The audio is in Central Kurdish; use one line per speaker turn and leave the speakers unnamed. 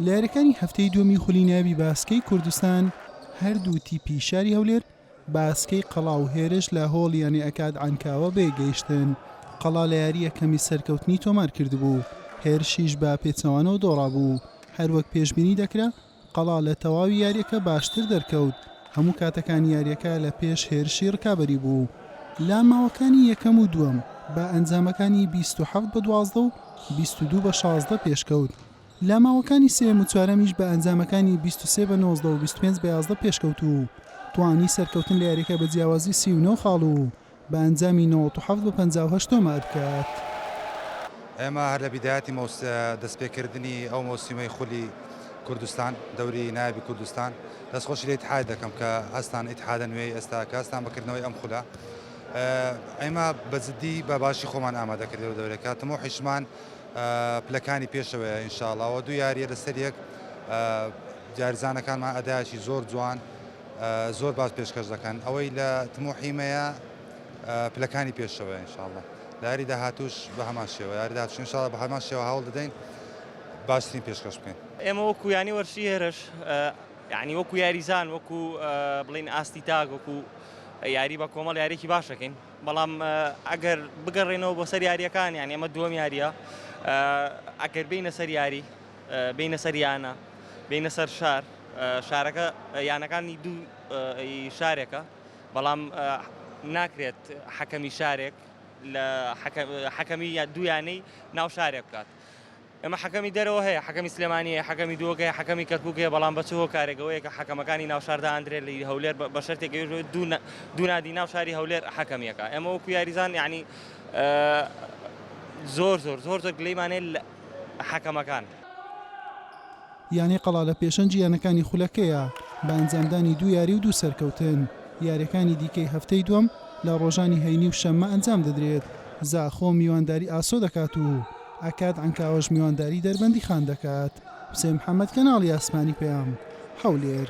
لە یاریەکانی هەفتەی دووەمی خولی ناوی باسکەی کوردستان هەردوو تیپی شاری هەولێر باسکەی قەڵا و هێرش لە هۆڵ یانێ ئەکاد عەنکاوە بێگەیشتن قەڵا لە یاریە کەمی سەرکەوتنی تۆمار کردبوو هێرشیش بە پێچەوانەوە دۆڕا بوو هەروەک پێشببینی دەکرا قەڵا لە تەواوی یارییەکە باشتر دەرکەوت، هەموو کاتەکانی یارییەکە لە پێش هێرشی رکابەری بوو. لە ماوەکانی یەکەم و دووەم بە ئەنجامەکانی بیست و حەفت بە دوازدە و بیست و دوو بە شازدە پێشکەوت، لە ماوەکانی سێیەم و چوارەمیش بە ئەنجامەکانی بیست و سێ بە نۆزدە و بیست و پێنج بە یازدە پێشکەوتوو و توانی سەرکەوتن لە یارییەکە بە جیاوازی سی و نۆ خاڵ و بە ئەنجامی نەوەد و حەفت بە پەنجا و هەشت تۆمار بکات.
ئێمە هەر لە بیدایەتی دەستپێکردنی ئەو مۆسیمەی خولی کوردستان دەوری نایابی کوردستان دەستخۆشی لە ئیتحاد دەکەم کە هەستان ئیتحادە نوێی ئێستا کە هەستان بەکردنەوەی ئەم خولە ئێمە بە جددی بە باشی خۆمان ئامادەکردی و دەورەکە تمۆ حیشمان پلەکانی پێشەوەیە ئینشاڵاوە دوو یاریە لەسەر یەک جارزانەکانمان ئەدایشی زۆر جوان زۆر باش پێشکەش دەکەن ئەوەی لە تموحی مەیە پلەکانی پێشەوە انشاءاللە لاری داهاتوش بە هەمان شێوە لاری داهاتوش انشاءاللە بە هەمان شێوە هەوڵ دەدەین باشترین پێشکەش بکەین. ئێمە وەکو یانەی
وەرزشی هێرش یانی وەکو یاریزان وەکو بڵین ئاستی تاک وەکو یاری بە کۆمەڵ یاریێکی باشەکەین بەڵام ئەگەر بگەڕێنەوە بۆ سەر یاریەکان یان ئێمە دووەم یاریە ئەگەر بینە سەر یاری بێینە سەر یانە بێینە سەر شار شارەکە یانەکانی دوو شارێکە بەڵام ناکرێت حەکەمی شارێک لە حەکەمی یا دویانەی ناو شارێک بکات ئەمە حەکەمی دەرەوە هەیە حەکەمی سلێمانیە حەکەمی دووەکەی حەکەمی کەرکووکەیە بەڵام بەچ هۆ کارێکەوەیە کە حەکەمەکانی ناوشاردا ئەندرێت لە هەولێر بە شەرتێک دوونادی ناو شاری هەولێر حەکەمیەکە ئەمە وەکو یاریزان یعنی زۆر زۆر زۆر زۆر گلەیمانێت حەکەمەکان.
یانەی قەڵادە پێشەنگی یانەکانی خولەکەیە بە ئەنجامدانی دوو یاری و دوو سەرکەوتن، یاریەکانی دیکەی هەفتەی دووەم لە ڕۆژانی هەینی و شەممە ئەنجام دەدرێت، زاخۆ میوانداری ئاسۆ دەکات و ئەکاد عەنکاوەش میوانداری دەربەندیخان دەکات. حوسێن محەمەد، کەناڵی ئاسمانی پەیام، هەولێر.